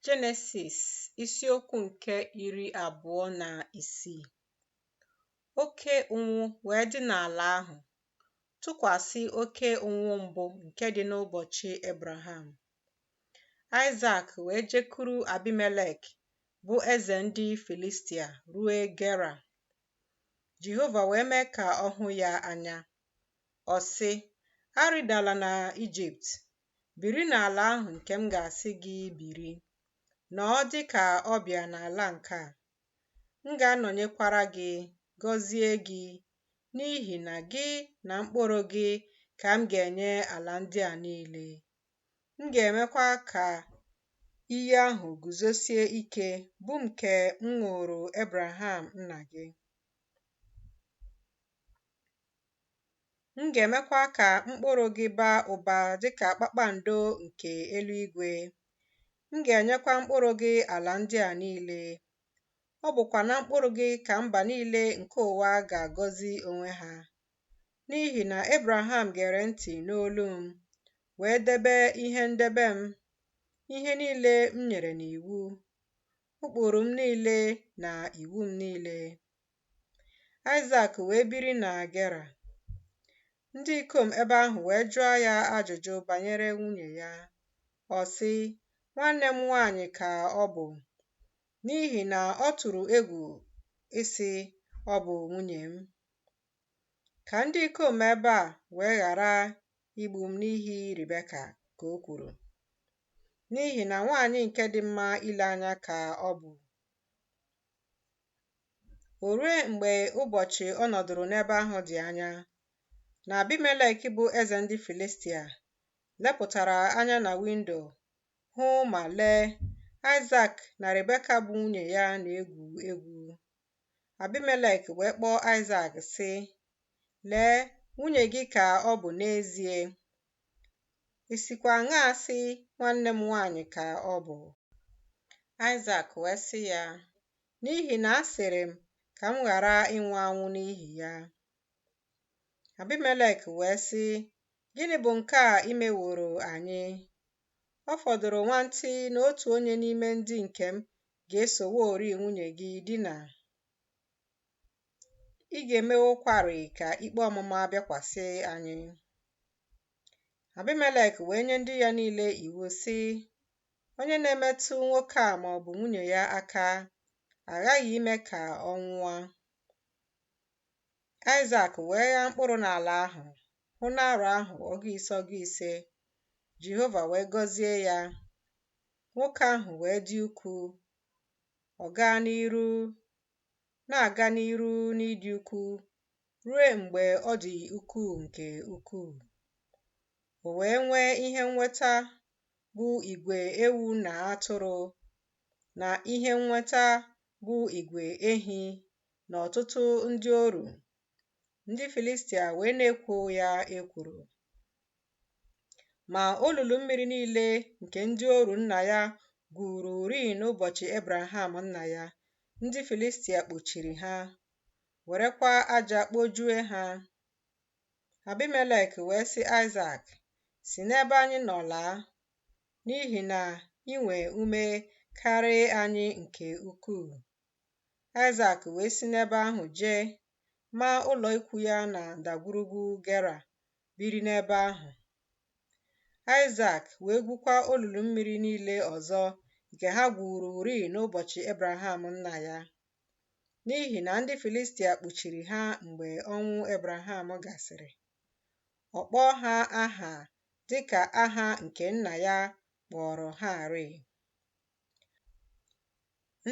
Jenesis isiokwu nke iri abụọ na isii oke ụnwụ wee dị n'ala ahụ tụkwasị oke ụnwụ mbụ nke dị n'ụbọchị Abraham. Aịsak wee jekuru Abimelek bụ eze ndị Filistia ruo Gera. Jehova wee mee ka ọ hụ ya anya. Ọ sị, Arịdala na Ijipt, biri n'ala ahụ nke m ga-asị gị biri, nọọ dị ka ọbịa n'ala nke a. M ga-anọnyekwara gị, gọzie gị, n'ihi na gị na mkpụrụ gị ka m ga-enye ala ndị a niile. M ga-emekwa ka iyi ahụ guzosie ike bụ nke m ṅụụrụ Abraham nna gị. M ga-emekwa ka mkpụrụ gị baa ụba dị ka kpakpando nke eluigwe. M ga-enyekwa mkpụrụ gị ala ndị a niile. Ọ bụkwa na mkpụrụ gị ka mba niile nke ụwa ga-agọzi onwe ha. N'ihi na Abraham gere ntị n'olu m, wee debe ihe ndebe m, ihe niile m nyere n'iwu, ụkpụrụ m niile na iwu m niile. Aịsak wee biri na Gera. Ndị ikom ebe ahụ wee jụọ ya ajụjụ banyere nwunye ya. Ọ sị, Nwanne m nwaanyị ka ọ bụ, n'ihi na ọ tụrụ egwu ịsị, Ọ bụ nwunye m. Ka ndị ikom ebe a wee ghara igbu m n'ihi Ribeka, ka o kwuru. N'ihi na nwaanyị nke dị mma ile anya ka ọ bụ. O ruo mgbe ụbọchị ọ nọdụrụ n'ebe ahụ dị anya, na Abimelek bụ eze ndị Filistia lepụtara anya na windo hụ ma lee, Aịsak na Rebeka bụ nwunye ya na-egwu egwu. Abimelek wee kpọọ Aịsak, sị, Lee, nwunye gị ka ọ bụ n'ezie. I sikwa aṅaa sị, Nwanne m nwanyị ka ọ bụ? Aịsak wee sị ya, N'ihi na asịrị m ka m ghara ịnwụ anwụ n'ihi ya. Abimelek wee sị, Gịnị bụ nke a i meworo anyị? Ọ fọdụrụ nwantị na otu onye n'ime ndị nke m ga-esoworị nwunye gị dina. ị ga-emewokwarị ka ikpe ọmụma bịakwasị anyị. Abimelek wee nye ndị ya niile iwu sị, Onye na-emetụ nwoke a ma ọ bụ nwunye ya aka aghaghị ime ka ọ nwụọ. Aịsak wee ghaa mkpụrụ n'ala ahụ, hụ n'arọ ahụ ọgụ ise ọgụ ise, Jehova wee gọzie ya. Nwoke ahụ wee dị ukwuu, ọ gaa n'iru na-aga n'iru n'ịdị ukwuu ruo mgbe ọ dị ukwuu nke ukwuu. O wee nwee ihe nnweta bụ igwe ewu na atụrụ na ihe nnweta bụ igwe ehi na ọtụtụ ndị oru. Ndị Filistia wee na-ekwo ya ekworo. Ma olulu mmiri niile nke ndị oru nna ya gwururi n'ụbọchị Ebraham nna ya, ndị Filistia kpochiri ha, werekwa aja kpojue ha. Abimelek wee sị Aịsak, Si n'ebe anyị nọ laa, n'ihi na i nwee ume karịa anyị nke ukwuu. Aịsak wee si n'ebe ahụ jee maa ụlọ ikwu ya na ndagwurugwu Gera biri n'ebe ahụ. Aịsak wee gwukwa olulu mmiri niile ọzọ nke ha gwururi n'ụbọchị Ebraham nna ya, n'ihi na ndị Filistia kpuchiri ha mgbe ọnwụ Ebraham gasịrị. Ọ kpọọ ha aha dị ka aha nke nna ya kpọrọ ha rịị.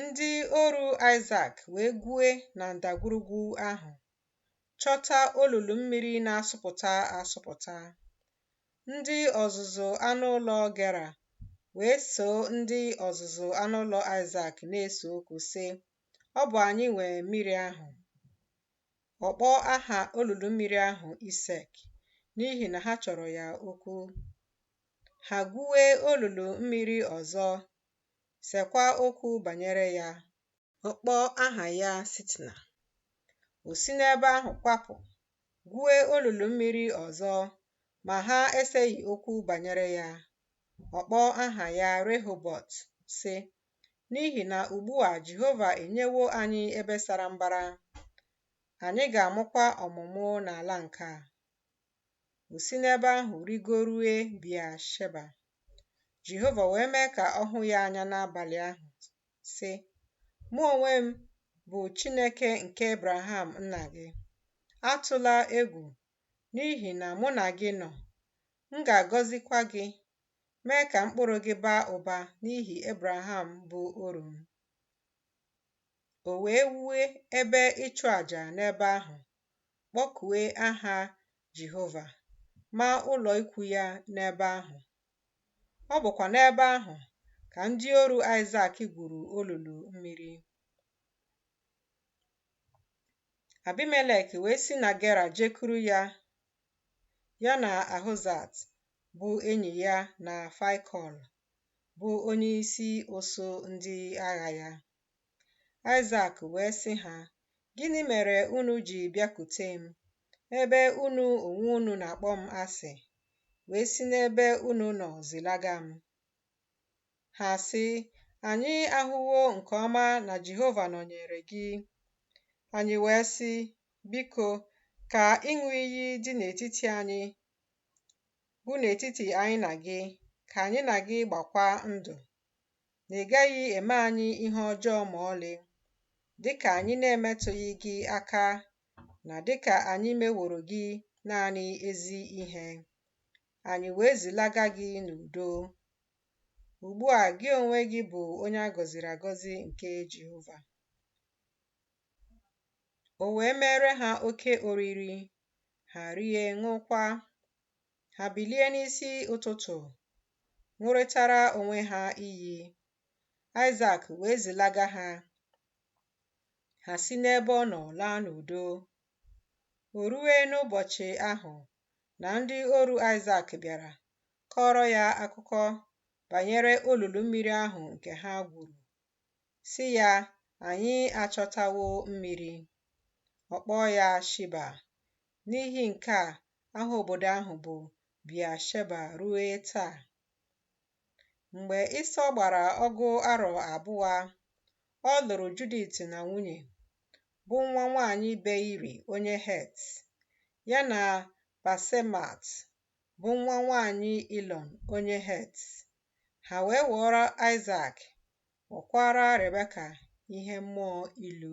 Ndị oru Aịsak wee gwue na ndagwurugwu ahụ chọta olulu mmiri na-asụpụta asụpụta. Ndị ọzụzụ anụ ụlọ Gera wee soo ndị ọzụzụ anụ ụlọ Aịsak na-ese okwu, sị, Ọ bụ anyị nwe mmiri ahụ. Ọ kpọọ aha olulu mmiri ahụ Isek n'ihi na ha chọrọ ya okwu. Ha gwue olulu mmiri ọzọ, sekwa okwu banyere ya, Ọ kpọọ aha ya Sitna. O si n'ebe ahụ kwapụ, gwue olulu mmiri ọzọ, ma ha eseghị okwu banyere ya. Ọ kpọọ aha ya Rehobọt, sị, N'ihi na ugbu a Jehova enyewo anyị ebe sara mbara, anyị ga-amụkwa ọmụmụ n'ala nke a. O si n'ebe ahụ rigorue Bia Sheba. Jehova wee mee ka ọ hụ ya anya n'abalị ahụ, sị, Mụ onwe m bụ Chineke nke Abraham nna gị. Atụla egwu, n'ihi na mụ na gị nọ. M ga-agọzikwa gị, mee ka mkpụrụ gị baa ụba n'ihi Abraham bụ oru m. O wee wue ebe ịchụ àjà n'ebe ahụ, kpọkue aha Jehova, maa ụlọ ikwu ya n'ebe ahụ. Ọ bụkwa n'ebe ahụ ka ndị oru Aịsak gwuru olulu mmiri. Abimelek wee si na Gera jekuru ya, ya na Ahuzat bụ enyi ya na Faịkọl bụ onyeisi usuu ndị agha ya. Aịsak wee sị ha, Gịnị mere unu ji bịakute m, ebe unu onwe unu na-akpọ m asị, wee si n'ebe unu nọ zilaga m? Ha sị, Anyị ahụwo nke ọma na Jehova nọnyere gị. Anyị wee sị, Biko, ka ịṅụ iyi dị n'etiti anyị, bụ n'etiti anyị na gị, ka anyị na gị gbakwa ndụ. na ị gaghị eme anyị ihe ọjọọ ma ọlị, dịka anyị na-emetụghị gị aka na dịka anyị meworo gị naanị ezi ihe. Anyị wee zilaga gị n'udo. Ugbu a gị onwe gị bụ onye a gọziri agọzi nke Jehova. O wee mere ha oke oriri, ha rie ṅụkwa. ha bilie n'isi ụtụtụ ṅụrịtara onwe ha iyi Aịsak wee zilaga ha ha si n'ebe ọ nọ laa n'udo o rue n'ụbọchị ahụ na ndị oru Aịsak bịara kọọrọ ya akụkọ banyere olulu mmiri ahụ nke ha gwuru sị ya anyị achọtawo mmiri ọ kpọọ ya Shiba N'ihi nke a, aha obodo ahụ bụ Bia-sheba rue taa. Mgbe Ịsọ gbara ọgụ arọ abụọ, ọ lụrụ Judit na nwunye, bụ nwa nwanyị Beiri onye Het, ya na Basemat, bụ nwa nwanyị Ilọn onye Het. Ha wee ghọọrọ Aịsak, ghọkwaara Rebeka ihe mmụọ ilu.